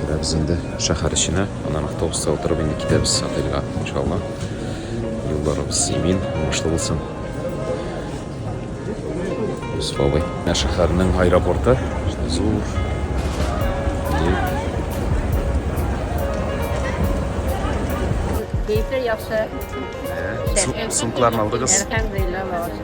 Керәбез инде шәһәр эченә, аннан автобуста утырып инде китәбез отельга, иншалла. Юлларыбыз имин, уңышлы булсын. Юсуф абый. Шәһәрнең аэропорты зур. Кәефләр яхшы. Сумкларны алдыгыз. Әлхәмдулилла, Аллага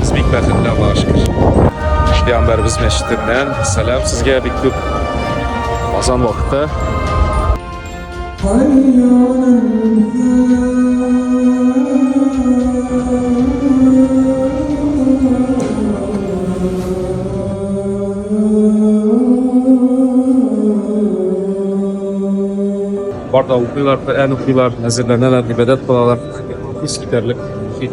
Без бик бәхетле, Аллага шөкер. Пәйгамбәрбез мәчетеннән сәлам сезгә бик күп. Азан вакыты. Барда укыйлар, Коръән укыйлар, әзерләнәләр, гыйбадәт кылалар. Искитәрлек мохит.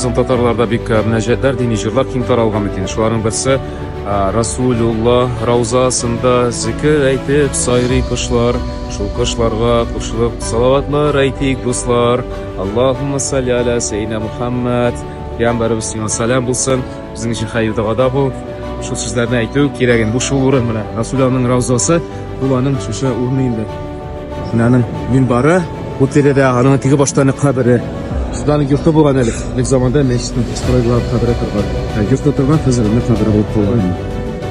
Соң татарларда бик э, мөнәҗәтләр, дини җырлар киң таралган икән. Шуларның берсе Расулулла раузасында зикр әйтеп сайрый кошлар. Шул кошларга кушылып салаватлар әйтик, дуслар. Аллаһумма салли аля сәйдина Мухаммад. Пәйгамбәребез сиңа сәлам булсын. Безнең өчен хәер дога да бу. Шул сүзләрне әйтү кирәк инде. Бу шул урын менә. Расуланың раузасы, бу аның шушы урыны инде. Менә аның минбары, бу тирәдә аның теге башта аны кабере. Судан йорты булган әле. Бик заманда мәчетне построилар, кабере торган. Ә йортта торган хәзер аны кабере булып калган.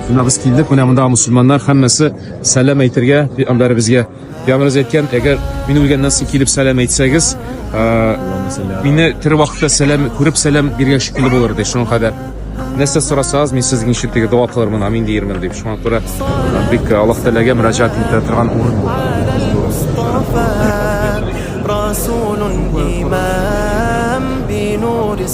Менә без килдек, менә монда мусульманнар һәммәсе сәлам әйтергә, пәйгамбәребезгә. Ягъназ әйткән, әгәр мин үлгәннән соң килеп сәлам әйтсәгез, мине тере вакытта сәлам күреп сәлам биргән шикелле булыр ди. Шуңа кадәр нәрсә сорасагыз, мин сезнең өчен теге дога кылырмын, амин диермен дип. Шуңа күрә бик Аллаһ Тәгаләгә мөрәҗәгать итә торган урын бу.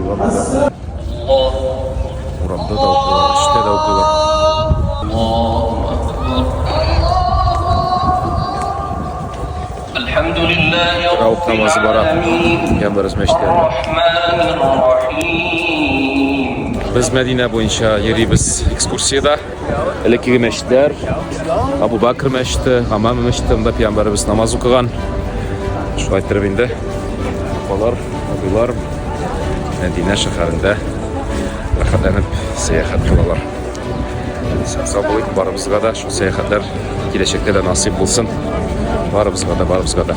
Урамда да. Урамда да укыйлар, эштә дә укыйлар. Раук намазы бара. Янбарыз мәчетләрдә. Без Мәдинә буенча йөрибез экскурсиядә. Элеккеге мәчетләр, Абу Бакр мәчете, Гамам мәчете, монда пиямбарыбыз намаз укыган. Шулай иттереп инде апалар, абыйлар Мәдинә шәһәрендә рәхәтләнеп сәяхәт кылалар. Сау булыйк, барыбызга да шул сәяхәтләр киләчәктә дә насыйп булсын. Барыбызга да, барыбызга да.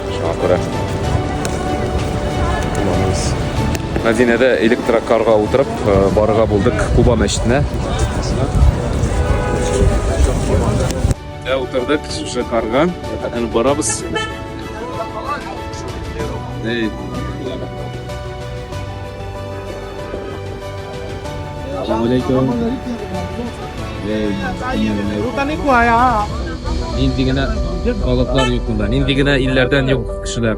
Шуңа күрә кулланабыз. Мәдинәдә электрокарга утырып э, барырга булдык Куба мәчетенә. Ә утырдык шушы карга. Әне барабыз. Эй, Нинди генә халыклар юк монда, нинди генә илләрдән юк кешеләр.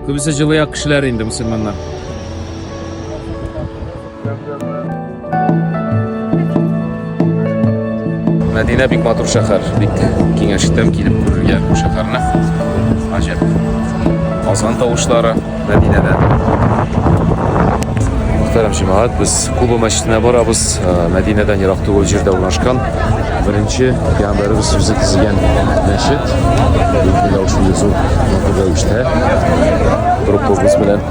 Күбесе җылы як кешеләр инде мусульманнар. Мәдинә бик матур шәһәр. Бик киңәш итәм килеп күрергә бу шәһәрне. Гаҗәп. Азан тавышлары Мәдинәдә. Мөхтәрәм җәмәгать, без Куба мәчетенә барабыз. Э, Мәдинәдән ерак түгел җирдә урнашкан. Беренче пәйгамбәребез үзе төзегән мәчет. Бик зур, матур рәвештә. Группабыз белән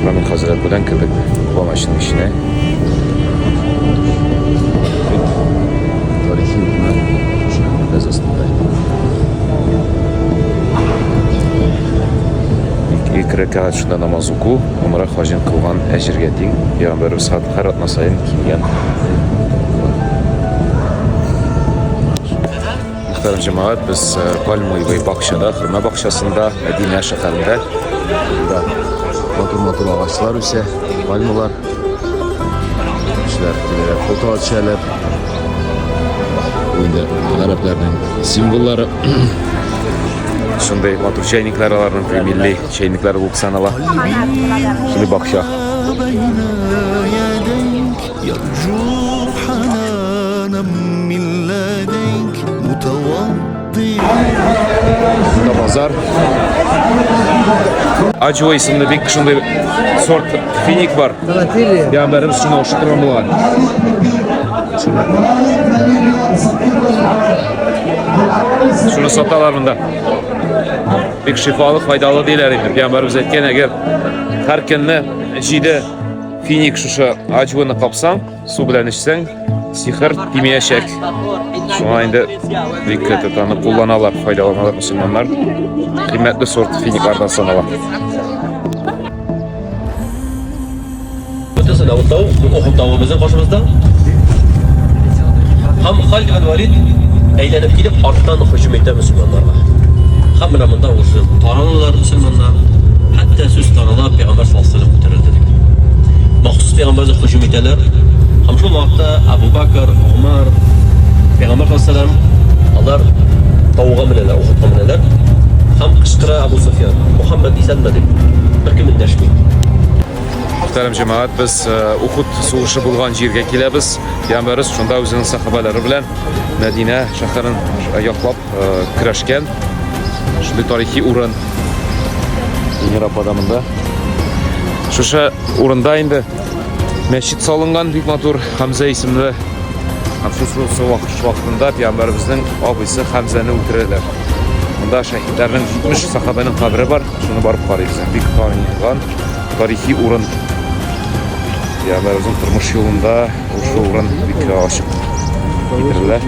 Мамин хәзрәт белән кебек помощның эченә. Тарихи урыннар без астында. Ике рәкәгать шунда намаз уку, умра хаҗын кылган әҗергә тиң. Пәйгамбәр сад һәр атна саен килгән. Мөхтәрәм җәмәгать, без э, пальмовый бакчада, хөрмә бакчасында, Мәдинә шәһәрендә. Монда матур-матур агачлар үсә, пальмалар. Кешеләр киләләр, фото төшәләр. Инде гарәпләрнең символлары шундый матур чәйникләр аларның милли чәйникләр булып санала. Шундый бакча. Базар. Аджо исемле бик шундый сорт финик бар. Я бәрем шуны ошып торган булган. Шуны саталар монда. Бик шифалы, файдалы диләр инде. Пәйгамбәрбез әйткән, әгәр һәр көнне җиде Финик шушы аҗвыны капсаң, су белән эчсәң, сихер тимәячәк. Шуңа инде бик көтеп аны кулланалар, файдаланалар мусульманнар. Кыйммәтле сорт финиклардан санала. Бүтәсе Давыт тау, Ухуд тавы безнең каршыбызда. Һәм Халид бен Валид әйләнеп килеп, арттан һөҗүм итә мусульманнарга. Һәм менә монда уже Алар мусульманнар, хәтта сүз тарала, пәйгамбәр саллаллаһу алейһи ва күтәрелде дип. Махсус пәйгамбәргә һөҗүм итәләр. Һәм шул вакытта Абу Бакр, Умар, пәйгамбәр саллаллаһу алейһи алар тауга менәләр, Ухудка менәләр. Һәм кычкыра Абу Суфиян, Мухаммад исәнме дип. Беркем эндәшми. Мөхтәрәм җәмәгать, без э, Ухуд сугышы булган җиргә киләбез. Пәйгамбәрбез шунда үзенең сахабалары белән Мәдинә шәһәрен яклап көрәшкән шундый тарихи урын Эльмира апа да монда шушы урында инде мәчет салынган бик матур Хәмзә исемле Хәмсусовсы вакытында пиямбәребезнең абыйсы Хәмзәне үтерәләр монда шәһитләрнең 70 сахабәнең кабере бар шуны барып карыйбыз бик танылган тарихи урын пиямбәребезнең тормыш юлында Шушы урын бик ачык китерелә.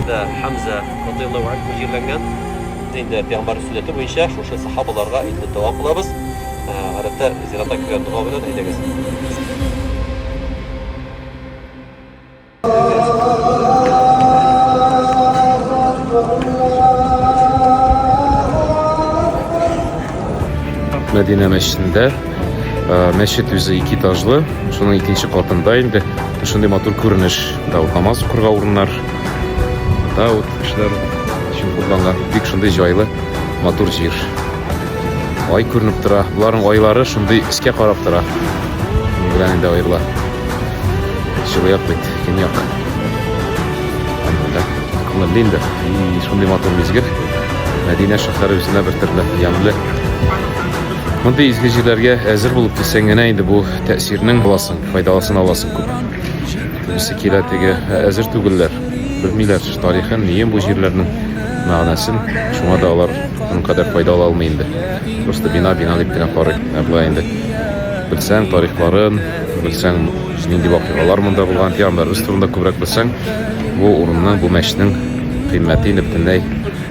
Да, Хамза радияллаһу анһу җирләнгән. Инде пәйгамбәр сүннәте буенча шушы сахабаларга инде дога кылабыз. Гадәттә зиратка кергән дога белән әйдәгез. Мәдинә мәчетендә Э, мәчет үзе ике этажлы, шуның икенче катында инде шундый матур күренеш. Да вот намаз укырга урыннар. Да вот кешеләр өчен кулланган бик шундый җайлы, матур җир. Ай күренеп тора. Боларның айлары шундый искә карап тора. Ни белән инде аерыла. Җылыяк бит, көньяк. Анда кылын инде. И шундый матур мизгел. Мәдинә шәһәре үзенә бер төрле ямьле. Мондый изге җирләргә әзер булып килсәң генә инде бу тәэсирнең буласың, файдаласын аласың күп. Кемсе килә теге әзер түгелләр, белмиләр тарихын, нием бу җирләрнең мәгънәсен. Шуңа да алар моның кадәр файда ала алмый инде. Просто бина бина дип кенә карый. Ә болай инде белсәң тарихларын, белсәң нинди вакыйгалар монда булган, пиғамбарыбыз турында күбрәк белсәң, бу урынның, бу мәчетнең кыйммәте инде бөтенләй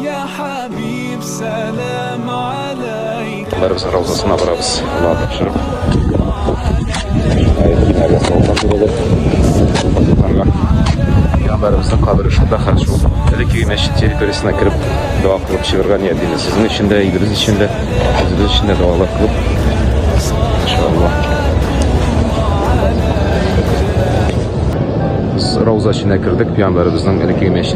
Я хәбиб сәлам алейка. Барыбыз раузасына барабыз. Аллаһ тапшырып. Пәйгамбәребезнең кабере шунда хәл шул. Әлеге мәчет территориясенә кереп дога кылып чыгарга ният итәбез. Сезнең өчен дә, илебез өчен дә, үзебез өчен дә догалар кылып. Иншаллаһ. Без Рауза эченә кердек, пәйгамбәребезнең әлеге мәчет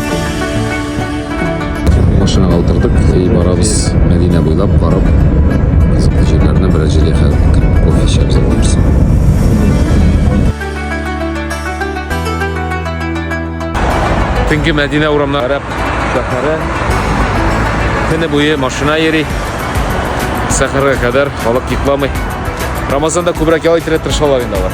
Машинаға утырдык и барабыз Мәдинә буйлап барып кызыклы җирләренә бераз җил яхәдек. Кофе эчәбез барсын. Төнге Мәдинә урамына карап сәфәре. Көне буе машина йөри. Сәхәргә кадәр халык йокламый. Рамазанда күбрәк ял итәргә тырышалар инде алар.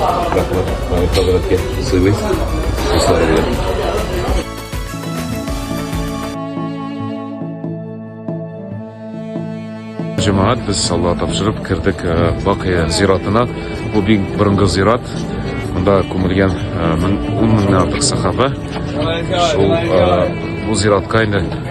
Рәхмәт, Мамит хәзрәткә сыйлыйм. Дуслары белән. Җәмәгать без Алла тапшырып кердек э, Бакыя зиратына. Бу бик борынгы зират. Монда күмелгән 10 э, меңнән артык сахаба. Шул э, бу зиратка инде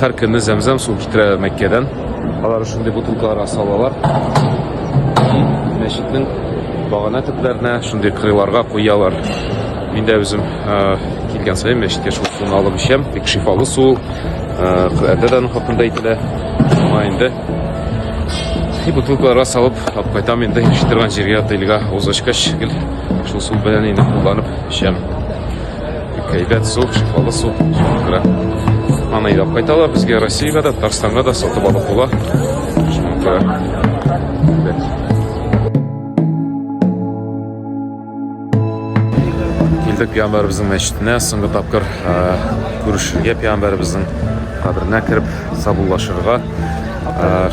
Хәр көнне зәмзәм су китерәләр Мәккәдән. Алар шундый бутылкаларга салалар. Мәчетнең багана төпләренә шундый кырыйларга куялар. Мин дә үзем килгән саен мәчеткә шул суны алып эчәм. Бик шифалы су. Коръәндә дә аның хакында әйтелә. Шуңа инде и бутылкаларга салып алып кайтам инде эчеп торган җиргә тыйылга узышкач гел шул су белән инде кулланып эчәм Әйбәт су, шифалы су. Шуңа аны илап кайталар. Безгә Россиягә дә, Татарстанга да сатып алып була. Килдек пиамбарыбызның мәчетенә, соңгы тапкыр күрешергә пиамбарыбызның каберенә кереп сабуллашырга.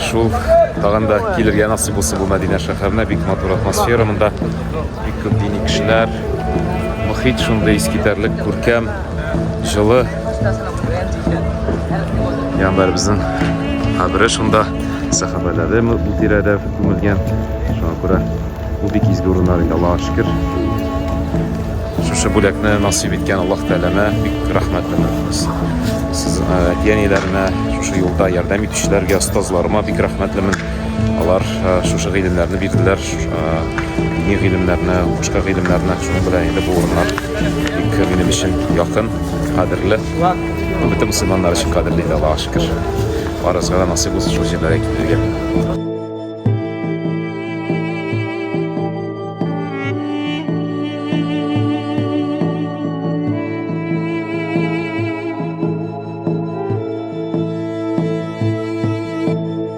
Шул тагын да килергә насыйп булса бу Мәдинә шәһәренә бик матур атмосфера монда. Бик күп дини кешеләр, Мохит шундый искитәрлек күркәм, җылы. Яндар безнең кабере шунда, сәхабәләре бу тирәдә күмелгән. Шуңа күрә бу бик изге урыннар инде, Аллаһка шөкер. Шушы бүләкне насыйп иткән Аллаһ Тәгаләмә бик рәхмәтле без. Сез әти-әниләренә, шушы юлда ярдәм итүчеләргә, остазларыма бик рәхмәтлемен. Алар шушы гыйлемнәрне бирделәр, дини гыйлемнәрне, башка гыйлемнәрне. Шуның белән инде бу урыннар бик минем өчен якын, кадерле. Бөтен мөселманнар өчен кадерле инде, Аллаһуга шөкер. Барысына да насыйп булсын шул җирләргә китергә.